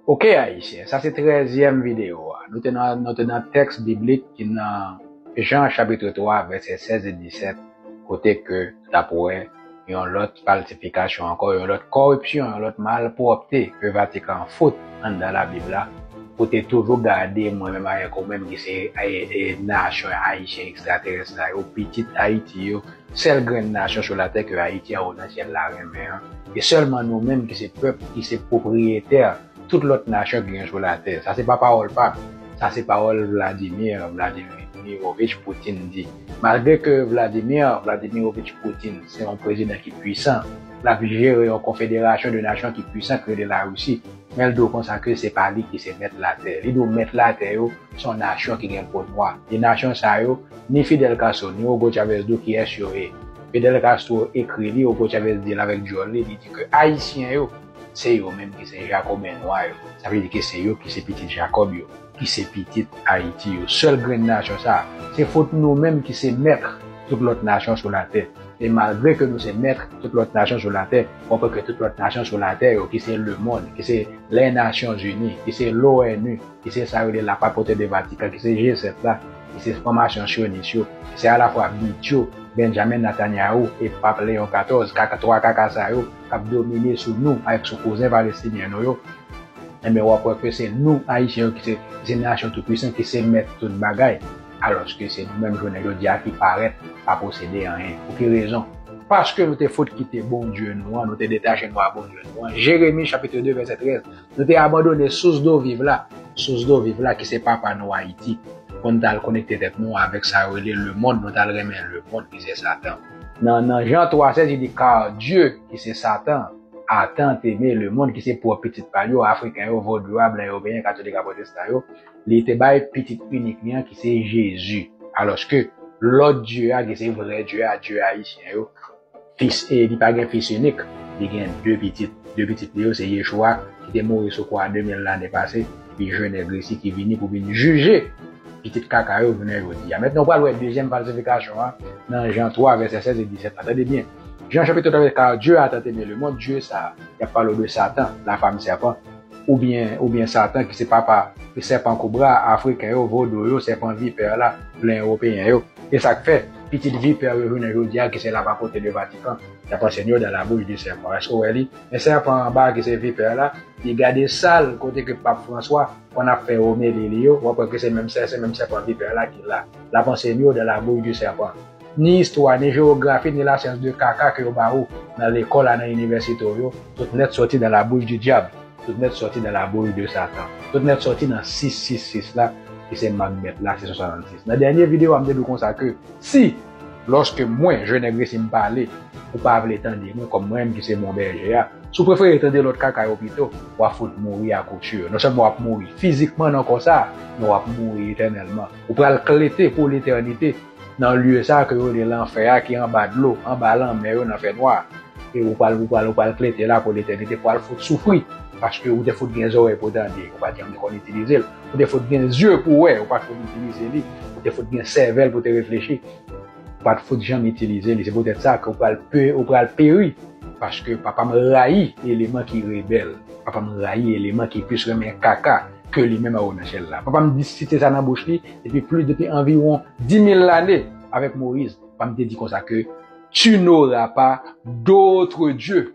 Ok Ayisyen, sa se trèzyèm videyo a. Nou te nan nou te nan tèks biblik ki nan Jan chapitre 3 vèsè 16 e 17 kote ke nou t ap wè yon lòt falsifikasyon ankò, yon lòt kòripsyon, yon lòt malpwòpte ke Vatikan an fout anndan Labib la pou te toujou gade mwen menm avèk ou menm ki se nasyon Ayisyen ekstraterès sa yo, pitit Ayiti yo. Sèl grenn nasyon sou latè ke Ayiti anwo nan syèl la renmen an, e sèlman nou menm ki se pèp ki se pwopriyetè tout lòt nasyon ki gen sou latè. Sa se pa pawòl pa m, sa se pawòl Vladimir Vladimirovich Poutine di. Malgre ke Vladimir Vladimirovich Poutine se yon prezidan ki pwisan, l ap jere yon konfederasyon de nasyon ki pwisan ki rele Larisi, men l di w konsa ke se pa li ki se mèt latè. Li di w mèt latè yo se yon nasyon ki gen po nwa, e nasyon sa yo, Ni Fidel Castro, ni Hugo Chavez do kiyès yo ye. Fidel Castro ekri li, Hugo Chavez di l avèk dyòl li, li di ke Ayisyen yo, se yo menm ki se Jakoben nwa yo. Sa vle di ke se yo ki se pitit Jakòb yo, ki se pitit Ayiti yo. Sèl grenn nasyon sa a. Se fot nou menm ki se mèt tout lòt nasyon sou latè. E malgre ke nou se mèt tout lòt nasyon sou latè, wap wè ke tout lòt nasyon sou latè yo, ki se lemond, ki se lè Nasyonzini, ki se l'ONU, ki se sa yo rele la papauté de Vatican, ki se G7 la, ki se fwanmasyon syonis yo, ki se alafwa bit yo, Benjamin Netanyahu e pap Leon 14, kaka 3 kaka sa yo k ap domine sou nou avèk sou kouzen palestinyen nou yo, enben w ap wè ke se nou Ayisyen yo ki se nasyon tou pwisan, ki se mèt tout bagay, alòske se nou menm jounen jodi a ki parèt pa posede anyen. Pou ki rezon? Paske nou te fout kite Bondye nou an, nou te detache nou a Bondye nou an, Jeremi chapitre 2 vèsè 13, Nou te abandone sous do viv la, sous do viv la ki se papa nou Ayiti, pou n t al konekte tèt nou avèk sa yo rele lemonn, nou t al renmen lemonn ki se Satan. Nan nan Jan 3, sèl di di car Dieu, ki se Satan, a tant aimé le monde, ki se pwòp pitit pa l yo, Afriken yo, Vodou a, Blan Ewopeyen, Katolik a, Pwotestan a yo, li te bay pitit inik li an ki se Jezi. Alòske lòt Dieu a ki se vrè Dieu a, Dieu Ayisyen yo, Fis e li pa gen fis inik, li gen de pitit. De pitit li yo se Yeshua, ki te mouri sou kwa a 2000 lane pase, epi je nègre isi ki vini pou vin jije pitit kaka yo jounen jodi a. Mètnen ou pral wè dezyèm falsifikasyon an nan Jan 3 vèsè 16 e 17 la. Tande byen, Jan chapitro 3 vèsè 1, Kar Dye a tan teme lemond, Dye sa a, y ap pale w de Satan, lafam sèpan, Oubyen oubyen Satan ki se papa sèpan kobra a, afriken yo, vodou yo, sèpan vipè la, blan ewopeyen yo. E sa k fè, pitit vipè yo jounen jodi a ki se lapapote de Vatikan, y ap ansène yo dans la bouche du serpent. Èske w wè li? Men sèpan an ba a ki se vipè la, li gade sal kote ke Pap Franswa konn ap fè omeli li yo, w ap wè ke se menm sèpan vipè la ki la. L ap ansène yo dans la bouche du serpent. Ni istwa, ni jewografi, ni la syans de kaka ke yo ba ou nan lekòl a nan inivèsite w yo, tout nèt sòti dans la bouche du diable, tout nèt sòti dans la bouche de Satan, tout nèt sòti nan 666 la ki se mank bèt la, 666. Nan dènye video a m te di w konsa ke si, lòske mwen, Je Nèg Resi m pale, ou pa vle tande mwen kòm mwen menm ki se bon bèje a, si w prefere tande lòt kaka yo pito, w a fout mouri a kout sur. Non sèlman w ap mouri fizikman nan kò sa a, men w ap mouri etènèlman. Ou pral klete pou letènite. nan lye sa ke yo rele lanfè a ki anba dlo, anba lanmè yo nan fè nwa a. E ou pral, ou pral, ou pral klete la pou letènite pou al fout soufri paske ou te fout gen zòrèy pou tande, ou pa janm te konn itilize l, ou te fout gen zye pou wè, ou pa t fout itilize li, ou te fout gen sèvèl pou te reflechi, ou pa t fout janm itilize li. Se poutèt sa ke ou pral pe, ou pral peri paske Papa m rayi eleman ki rebèl, Papa m rayi eleman ki plis renmen kaka. ke li menm Awouna Chèl la. Papa m di site sa nan bouch li depi plis depi anviwon dimil lane avèk Moyiz. Papa m te di konsa ke Tu n'auras pas d'autre Dieu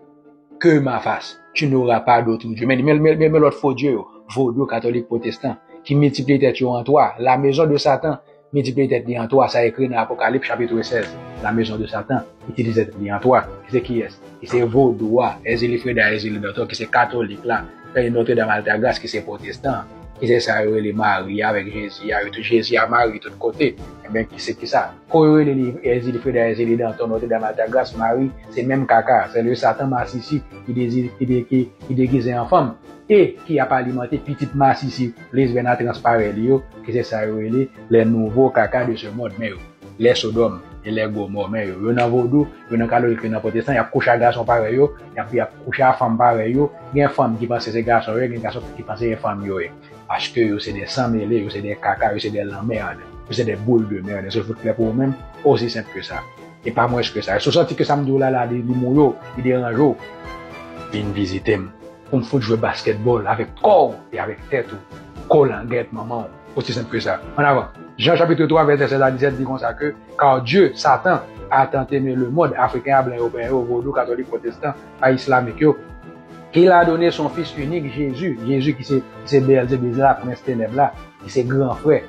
que ma face, tu n'auras pas d'autre Dieu. Men men men lòt fo dye yo, vodou, katolik, pwotestan ki miltipliye tèt yo an twa, la mezon de satan. Miltipliye tèt li an twa, sa ekri nan Apokalip chapitre 16, la mezon de satan, itilize tèt li an twa, ki se kiyès? Ki se vodou a, Èzili Freda Èzili Dantò, ki se katolik la, fè yon Notre Dame Altagrace ki se pwotestan an, ki se sa yo rele Mari avèk Jezi a, yo tout Jezi a Mari tout kote, enben ki se kisa? Kou yo rele li Èzili Freda Èzili Dantò Notre Dame Altagrace Mari, se menm kaka a, se le satan masisi ki degize an fanm e ki ap alimante pitit masisi. plis vè nan transparè li yo, ki se sa yo rele les nouveaux caca de ce monde, men yo, les Sodom et les Gomorrhe, men yo, yo nan vodou, yo nan katolik, yo nan pwotestan, y ap kouche ak gason parèy yo, y ap, y ap kouche ak fanm parèy yo, gen fanm ki panse se gason yo ye, gen gason ki panse se fanm yo ye, paske yo se des san mele, yo se des caca, yo se des lanmerd, yo se des boules de merde, èske l fout klè pou ou menm? Osi senp ke sa. E pa mwens ke sa. Si w santi ke sa m di w la la li mou yo, li deranje w, vin vizite m. Pou m fout jwe basketball avèk kò w e avèk tèt ou, kolangèt manman w. Osi senp ke sa. An avan! Jan chapitre 3 vèsè 16 a 17 di konsa ke, Car Dieu, Satan, a tant aimé le monde, Afriken a, blan yo, Pen yo, Vodou, Katolik, Pwotestan, a Islamik yo, qu'il a donné son Fils unique, Jésus, Jésus ki se, ki se Beelzebizla, Prens Tenèb la, ki se gran frè.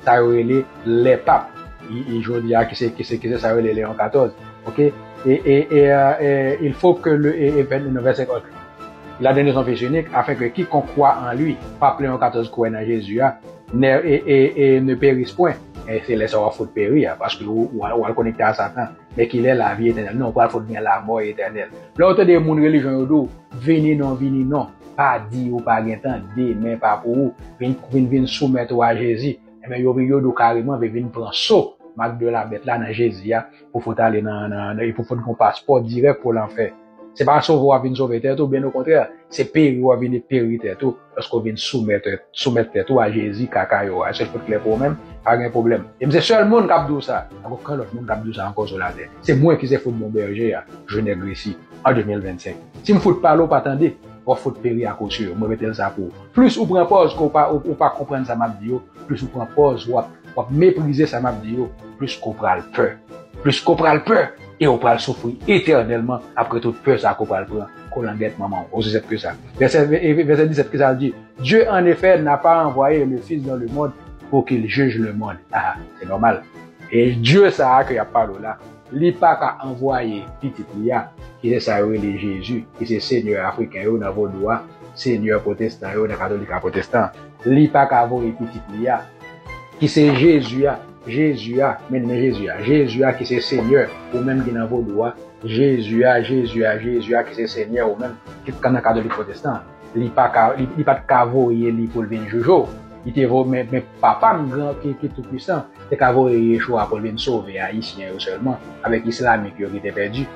Sa yo rele lè pap e jodi a kise kise kise sa yo rele leon 14 ok e e e e il fo ke le e e vèn nou vè se kòd il a done son fils unique afin ke ki kon kwa an lui pap leon 14 kwè nan jezi a nè e e e ne peris pwen e se lè sa wap fout peri a paske ou ou wal konekte a satan men ki lè lavi etènèl non ou pral fout gen lamò etènèl lè ou tande moun relijyon yo di ou vini non vini non Pa di ou pa gen tan, demen pa pou ou. Vin vin vin soumèt ou a Jezi. Enben yo vin yo di ou kareman vin vin pran so mak de la bèt la nan Jezi a pou fout ale nan nan e pou fout gon paspò dirèk pou lanfè. Se pa sove ou w'ap vin sove tèt ou byen okontrè se peri w'ap vin peri tèt ou paske ou vin soumèt soumèt tèt ou a Jezi kaka yo a. Èske l fout klè pou ou menm? Pa gen pwoblèm. E m se sèl moun k'ap di ou sa. Pa gen okenn lòt moun k'ap di ou sa ankò sou latè. Se mwen ki se fout bon bèje a, je ne gresi. an 2025. Si m fout pale ou pa tande, wap fout peri ak osye yo, mwen mete l sa pou ou. Plis ou pran pòz ke ou pa konprann sa map di yo, plis ou pran pòz wap wap meprize sa map di yo, plis ke w pral pè. Plis ke w pral pè e ou pral soufri etènèlman apre tout pè sa ke w pral pran. Kolangèt manman w, osi senp ke sa. Vèsè 17 kisa l di? Dieu en effet n'a pas envoyé le Fils dans le monde pour qu'il juge le monde. Aha, se nòmal. E Dieu sa a ke yap pale w la, Li pa ka anvwaye pitit li a, ki se sa yo rele Jezi, ki se senyè Afriken yo nan vodou a, senyè pwotestan yo nan katolik a pwotestan an. Li pa ka voye pitit li a, ki se Jezi a, Jezi a, men men Jezi a, Jezi a ki se senyè ou menm ki nan vodou a, Jezi a, Jezi a, Jezi a ki se senyè ou menm ki nan katolik pwotestan an. Li pa ka, li pa t ka voye li pou l vin Jojo. Li te vo, men, men Papa m gran, ki, ki tou pwisan, te ka voye Yeshua pou l vin sove Ayisyen yo sèlman, avèk Islamik yo ki te pèdi.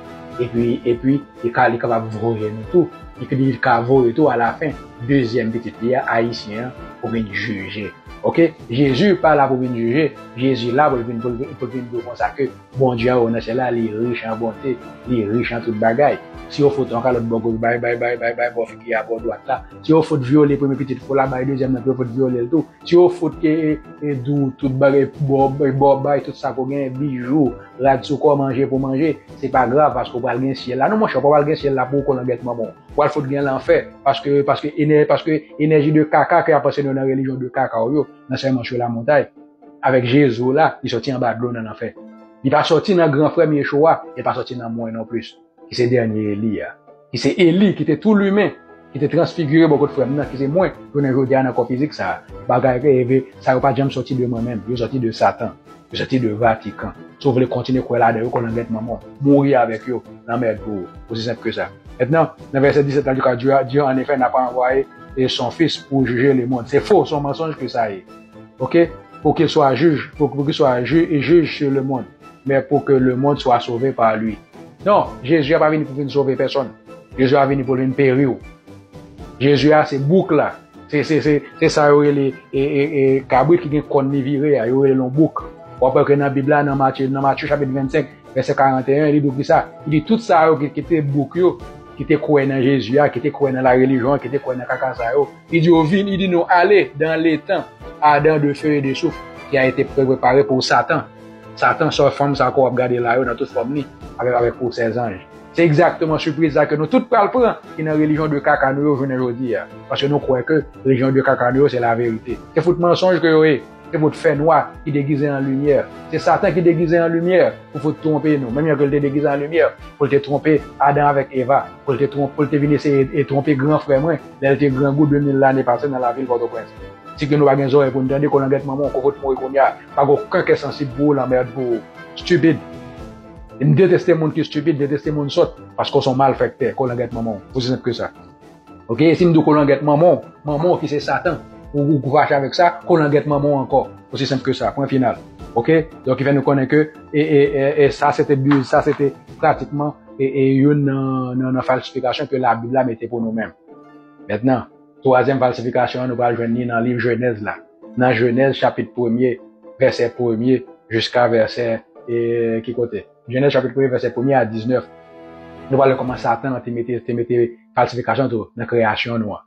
Epi, epi, li ka, li kapab voye nou tou. Epi li vin ka voye tou, alafen, dezyèm Pitit li a, Ayisyen an, pou vin jije. Oke? Jezi pa la pou vin jije. Jezi la pou l vin, pou l vin, pou l vin di w konsa ke, Bondye a ou nan syèl la li rich an bonte, li rich an tout bagay. Si yo fout yon kalòt bò goch bay, bay, bay, bay, bay bò figi a bò dwat la. Si yo fout vyole premye pitit fou la bay dezyèm nan pou yo fout vyole l tou. Si yo fout dou tout bagay bò, bò bay tout sa ke w genyen bijou, rad sou kò, manje pou w manje, se pa grav paske w pral gen syèl la. Non monchè, ou pa pral gen syèl la pou w kolangèt manman w. Ou pral fout gen lanfè paske, paske, paske enèji de kaka ke y ap anseye nou nan relijyon de kaka w yo, nan Sèman sou Lamontay. Avèk Jezi w la, li sòti anba dlo nan lanfè. Li pa sòti nan gran frè m Yeshoua, e l pa sòti nan mwen nonplis, ki se dènye Eli a, ki se Eli ki te tou limen, ki te transfigire bò kot frè m nan, ki se mwen, jounen jodi a nan kò fizik sa a. Bagay reve sa yo pa t janm sòti de mwen menm, yo sòti de Satan, yo sòti de Vatikan. Si w vle kontinye kwè ladan yo, kolangèt manman w, mouri avèk yo, lanmèd pou ou. Osi senp ke sa. Mentnan, nan vèsè 17 la, Lucas di, Dieu, en effet, n'a pas envoyé son Fils pour juger le monde. Se fo, se yon mansonj ke sa ye. Ok pou kil swa jij pou ki swa jij su le mond men pou ke le mond swa sove pa li non jezi a pa vini pou vini sove pèsòn jezi a vini pou vini peri ou jezi a se bouk la se se se se sa yo rele e e e kabrit ki gen kòn li vire a yo rele lon bouk wap wè ke nan bib la nan matye nan matye chapit 25 vèsè 41 li di w kisa li di tout sa yo ki te bouk yo ki te kwè nan jezi a ki te kwè nan la relijyon ki te kwè nan kaka sa yo. Li di yo, Vin, li di nou, Ale dan letan adan de fe e de souf ki a ete prepare pou Satan. Satan, sa w fanm sa ke w ap gade la yo nan tout fòm li, avèk avèk pou sè zanj. Se egzakteman sipriz sa ke nou tout pral pran ki nan relijyon de kaka nou yo jounen jodi a, paske nou kwè ke relijyon de kaka nou yo se laverite. Se fout mansonj ke yo ye! e pou w t fè nwa ki degize an limyè. Se Satan ki degize an limyè pou fout twonpe nou, menm jan ke l te degize an limyè pou l te twonpe Adan avèk Eva, pou l te twon, pou l te vin eseye e twonpe gran frè mwen lè l te grangou 2000 lane pase nan lavil Pòtoprens. Si ke nou pa gen zòrèy pou n tande, kolangèt manman w koke w t mouri kounya, pa gen oken kè sansib pou ou, lanmerd pou ou. Stupid. M deteste moun ki stupid, m deteste moun sòt, paske w s on malfèktè, kolangèt manman w. Osi senp ke sa. Ok, e si m di w kolangèt manman w, manman w ki se Satan, ou ou fache avèk sa, kolangèt manman w ankò. Osi senp ke sa, pwen final. Ok, donk ki fè nou konnen ke e e e e sa se te bi, sa se te pratikman e e youn nan nan falsifikasyon ke labib la mete pou nou menm. Mètnan, twazyèm falsifikasyon an nou pral jwenn li nan liv Jenèz la, nan Jenèz chapit premye vèsè premye jiska vèsè e ki kote? Jenèz chapit premye vèsè premye a 19, nou pral wè kòman Satan te mete te mete falsifikasyon tou nan kreyasyon nou an.